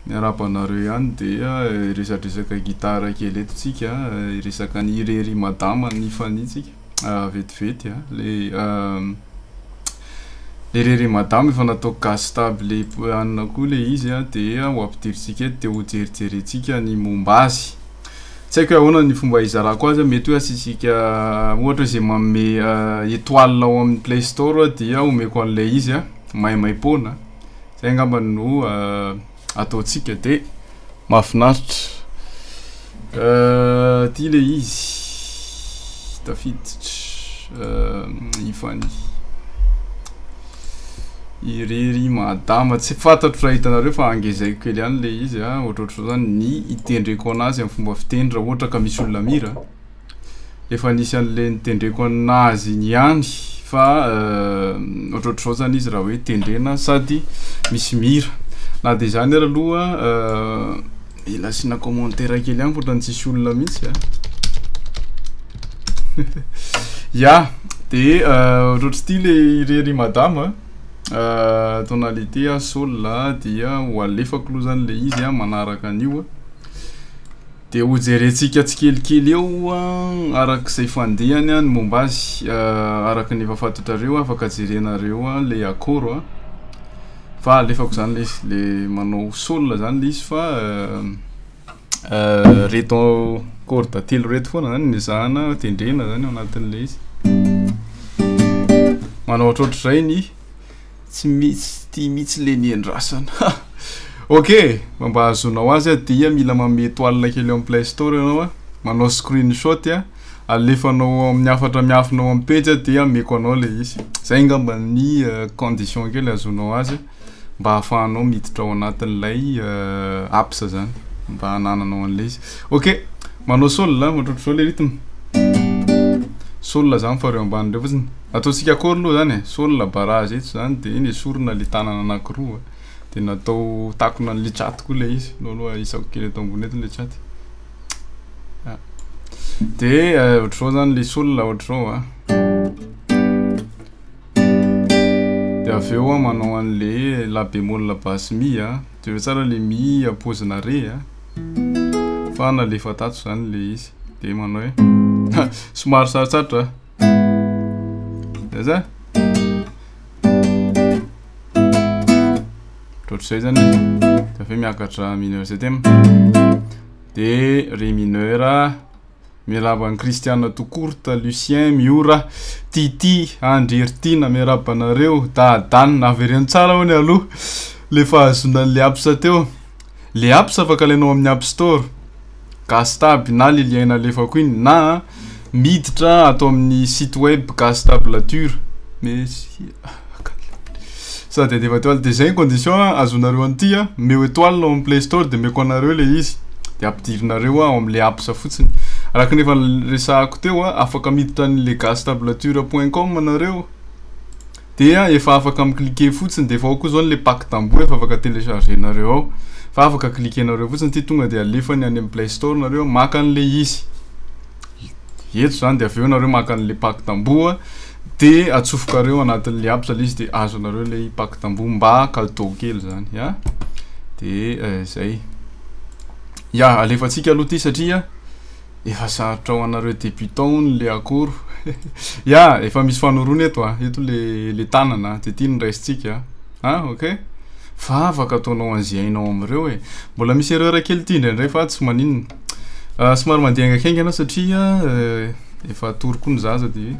Miarahaba anareo ihany dia hiresadresaka gitara kely eto tsika hiresaka ny irery madama ny fania tsika ah, vetivety ah, le uh, le irery madama efa natao gas stable le poanina koa le izy ah, dia ho ampidirintsika eto dia ho jerijerentsika ny momba azy tsy haiko hoe ahoana ny fomba hizarako azy mety hoe asisika ohatra izay manome uh, étoile ao amin'ny play store dia omeko an'ilay izy ah, maimaipoana Zay angamba no ataontsika de mahafinaritra. Ty le izy tafiditra ifany irery madama tsy fantatro raha hitanareo fa angezaiko kely ihany le izy a ohatrohatro zany ny itendreko anazy amin'ny fomba fiteny raha ohatra ka misy olona mira. efa nisy an'le nitendreko an'azy iny ihany fa ohatrohatr'izao zany izy raha hoe tendrena sady misy mira na de zany ary aloha mila asiana commentaire kely ihany ohatrany tsisy olona mihitsy a ya de ohatrohatr'ity le irery madama tonalité a sol a dia ho alefako aloha zany le izy a manaraka an'io a Dia hojerentsika tsikelikely eo araka izay fandehany ny momba azy. Araka ny efa fantatrareo, afaka jerenareo ilay akôro. Fa alefako izany ilay izy, ilay manao sol izany ilay izy fa ireto kôrda telo ireto foana izany no ezahana tendrena izany ao anatin'ilay izy. Manao ohatrohatr'izay ny. tsy mitsy tia mitsy le ny endrasana ha ok mba ahazoanao azy a dia mila mame toile kely amin'ny play store ianao a manao screen shot a alefanao amin'ny hafatra miafina ao amin'ny pejy a dia ameko anao le izy zay ngamba ny condition kely ahazoanao azy mba ahafahanao miditra ao anatin'ilay apps zany mba hanananao an'le izy ok manao sol a ohatrohatry zao le rythme sol zany fa reo ambany reo fotsiny Ataontsika akory aloha zany e, solona barrage eto zany de iny esorina le tanana anakiroa de natao takona anle chat koa le izy, aleo aloha ahisako kely eto ambony eto le chat. Ah. De eh, ohatr'izao zany le solona ohatr'izao a. De avy eo a manao anle la bémol la basse mi a, jereo tsara le mi a pozina re a. Fa nalefa tato zany le izy. De manao hoe somary sarotsarotra a. Zaza. Ohatr'izay zany izy. Dia avy miakatra mineur septième. Dia ré mineur. Miarahaba an'i Christiana Tokorta, Lucien, Miora, Titi, Andry Heritina, miarahaba anareo. Dadan, avereno tsara hono aloha le fahazoana an'ilay apsa teo. Le apps afaka alainao amin'ny app store, gasy tab na le lien nalefako iny na miditra ato amin'ny site web gasy tablature sa de handefa etoile de zay ny condition a azonareo an'ity a omeo etoile ao amin'ny play store de omeko anareo le izy de ampidirinareo ao am'le apps fotsiny araka ny efa resahako teo a afaka miditra an'le gasy tablature point com nareo. dia efa afaka mi cliquer fotsiny dia efa ao koa izao ilay pack tamboho efa afaka telecharger nareo ao fa afaka cliquer nareo fotsiny ity tonga dia alefany any amin'ny play store nareo maka an'ilay izy eto izany dia avy eo nareo maka an'ilay pack tamboho dia atsofokareo anatin'ilay app ilay izy dia azonareo ilay pack tamboho mba cadeau kely izany ya dia izay ya alefantsika aloha ity satria Efa sarotra ho anareo débutants hono le akoro. Ya, efa misy fanorona eto a. Eto le le tanana a, de ty no raisintsika a. Ah, ok. Vavaka ataonao an'izay hainao amin'ireo e. Mbola misy erreur kely ty indraindray fa tsy maninona. Ah, somary mandeha haingaikaingana satria efa atory koa ny zaza de.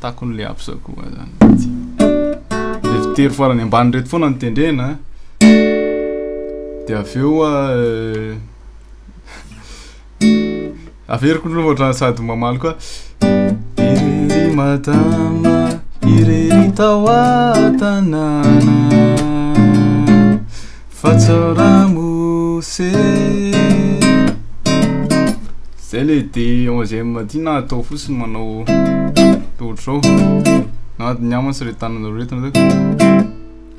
Takon le absa koa zany mihitsy. Le fitery farany ambany reto foana no tendrena. De avy eo euh, averiko ny loha ohatrany sady mamaly koa. Irery madama, irery tao an-tanàna. Fa tsao ramose Zay le de onzième aty na atao fotsiny manao ohatr'izao na ny namana sy retanana retina zay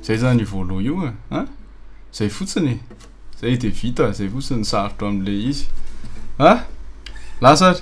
zay zany io vôlô io e a zay fotsiny e zay de vita zay fotsiny ny sarotra amle izy a lasa ary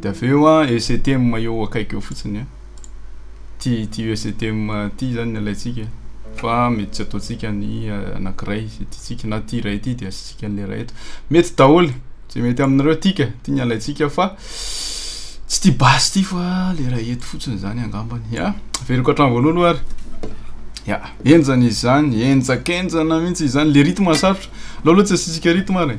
Dia avy eo an, ECTM eo akaiky eo fotsiny an. Ty ty ECTM ty zany ny alaintsika fa mety tsy ataontsika ny eh, anankiray tiantsika na ty iray ty dia asiantsika an'le iray eto. Mety daholo zay mety aminareo tika ty ny alaintsika fa tsy ty basy ty fa le iray eto fotsiny zany angambany. Ya, averiko hatrany voalohany aloha ary. Ya, enjana izy zany, enjakenjana mihitsy izy zany, le rythme sarotra. Aleo aloha tsy asiantsika rythme ary.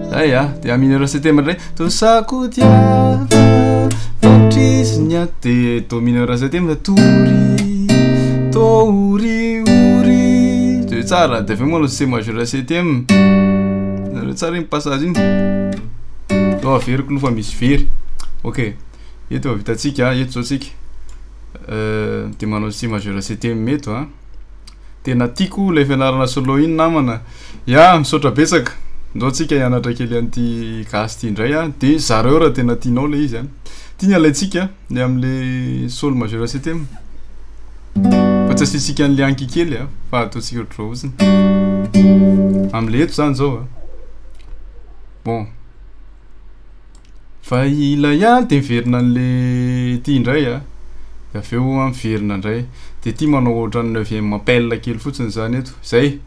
Aya, dia mineur septembre ndray. Tosako diava, fatrizy ny aty. Dia do mineur septembre, tory, tory, ory. Dia tsara, dia avy eo manao C majeur septembre. Nareo tsara iny passage iny. Eo averiko loha fa misy very. Ok, eto efa vitantsika, eto zao tsika. Euh, dia manao C majeur septembre eto a. Tena tiako ilay fianarana solo iny namana. Ya, misaotra betsaka. Ndao tsika hianatra kely an'ity gasy ity indray a. De zareo raha tena tianao le izy a. Ty ny alaintsika ny amle sol majeur septem. Fa tsy asiantsika an'le anki kely a fa ataontsika ohatr'izao fotsiny. Amle eto zany zao a. Bon. Fa ilay an de miverina anle ty indray a, de avy eo an miverina indray, de ty manao ohatran'ny neuvième appel kely fotsiny zany eto, zay,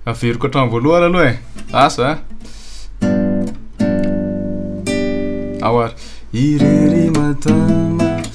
averiko hatramin'ny voalohany aloha e, asa a. Ao ary. Irery matama.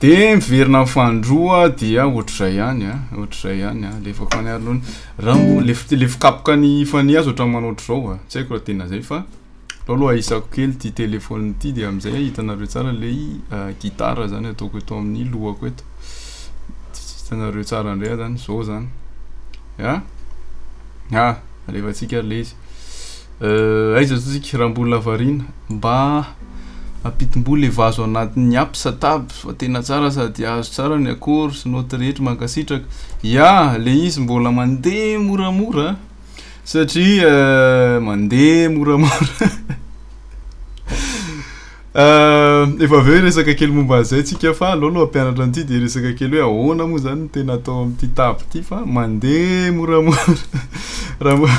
De miverina amin'ny fahandroa dia ohatr'izay ihany a, ohatr'izay ihany a, alefako any aloha ny rambo, lefo lefo kapoka ny fanihy aza ohatran'ny manao ohatr'izao a, tsy haiko raha tena zay fa alao aloha ahisako kely ity téléphone ity de am'zay ahitanareo tsara lay gitara zany ataoko eto amin'ny lohako eto, hitanareo tsara ndray a zany, zao zany, a! a! alefatsika lay izy. Euh aiza zao tsika raha mbola variana mba ampitimboa le vazo anatin'ny app sa tab fa tena tsara sady azo tsara ny accord sy note rehetra mankasitraka ya le izy mbola mandeha moramora satria mandeha moramora efa avy eo hiresaka kely momba an'izay tsika fa aleo aloha hampianatra an'ity de hiresaka kely hoe ahoana moa zany no tena atao amin'ity tab ity fa mandeha moramora raha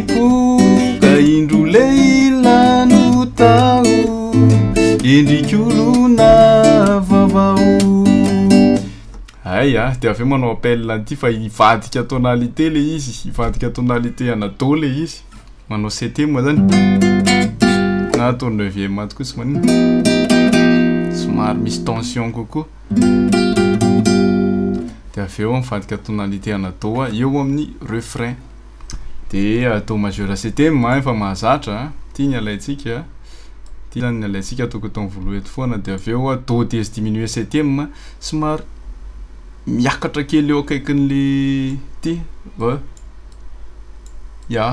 Koa indro lehilahy no taho Endrik'olona vaovao Hay a, dia avy eo manao appel an'ity fa hivadika tonalité ilay izy, hivadika tonalité ana do ilay izy, manao septième izany na atao neuvième ato koa tsy maninona, somary misy tension kokoa, dia avy eo mivadika tonalité ana do eo amin'ny refrain. de atao majeur septem a efa mahazatra ty ny alaintsika ty zany ny alaintsika toko atao voaloha eto foana de avy eo do dièse diminué septem somary miakatra kely eo akaikin'le ty va ya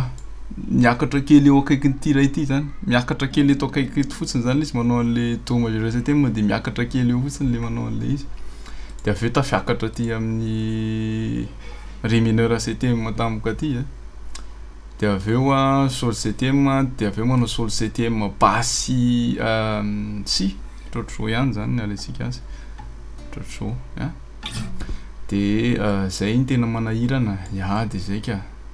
miakatra kely eo akaikin'ity iray ity zany miakatra kely eto akaiky eto fotsiny zany le izy manao an'le do majeur septem de miakatra kely eo fotsiny le manao an'le izy de avy eo tafiakatra aty amin'ny Ry mineur CTM tampoka aty a, dia avy eo a solo CTM dia avy eo manao solo CTM basy si ohatr'izao ihany zany ny alaintsika azy ohatr'izao a, dia zay no tena manahirana ny ady zay ka.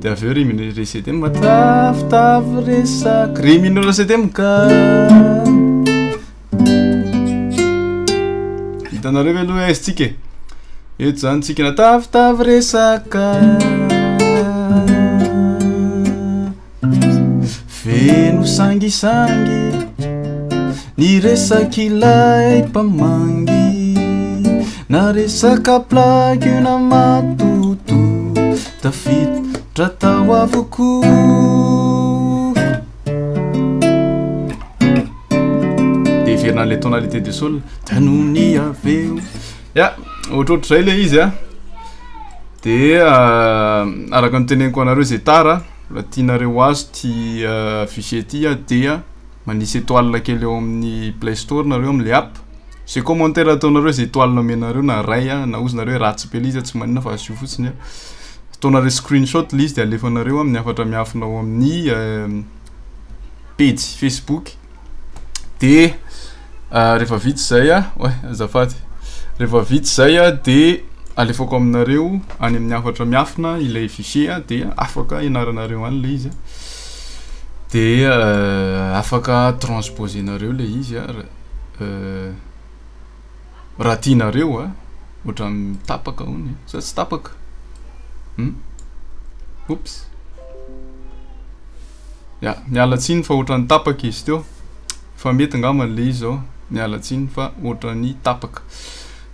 dia avy eo ry mineur re septième matavitavy resaky ry mineur septième ka hitanareo ve aloha aizy tsika e eto zany tsika natavitavy resaka feno sangisangy ny resak'ilay mpamangy na resaka plaky na mato Tafiditra tao avokoa. Dia heverina an'ilay tonalité de sol tanony avy eo. Ya, ohatrohatr'izay ilay izy a. Dia euh, araka ny teneniko anareo izay tara, raha tianareo ho azo ity euh, fichier ity dia manisy étoile kely eo amin'ny Play Store nareo amin'ilay app. Ze commentaire ataonareo ze étoile nomenareo na ray a na ozy nareo hoe ratsy be le izy a tsy maninona fa asio fotsiny a ataonareo screen shot le izy de alefanareo aminy hafatra miafina ao amin'ny pejy facebook de rehefa vita zay a oay azafady rehefa vita zay a de alefako aminareo any amin'ny hafatra miafina ilay fichier a de afaka hianaranareo any le izy a de afaka transposer nareo le izy a. raha tianareo a ohatran'ny tapaka hono e sa tsy tapaka hum oups ya miala tsiny fa ohatran'ny tapaka izy teo fa mety angamba le izy zao miala tsiny fa ohatran'ny tapaka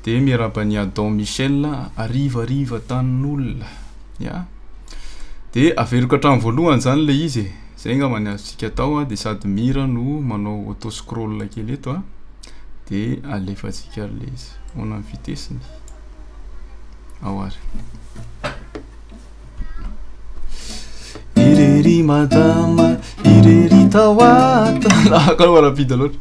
de miarahaba ny adon michel ariva ariva tanin'olona ya de averiko hatramin'ny voalohany zany le izy e Zay angamba ny azontsika atao a, de sady mira no manao auto scroll kely eto a, de alefantsika le izy. Ahoana ny vitesse-ny? Ao ary. Irery madama, irery tao ato. Lava kalo rapide loatra.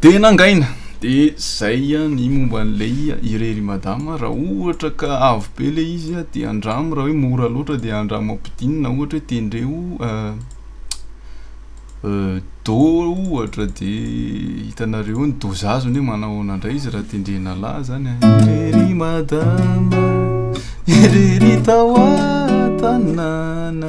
Dia nangaina. Dia zay ny momba an'ilay irery madama, raha ohatra ka avo be ilay izy dia andramo raha hoe mora loatra dia andramo ampidinina ohatra hoe tendreo do ohatra dia hitanareo eo ny do zazony hoe manao ahoana indray izy raha tendrena lahy zany an. Irery madama, irery tao an-tanàna.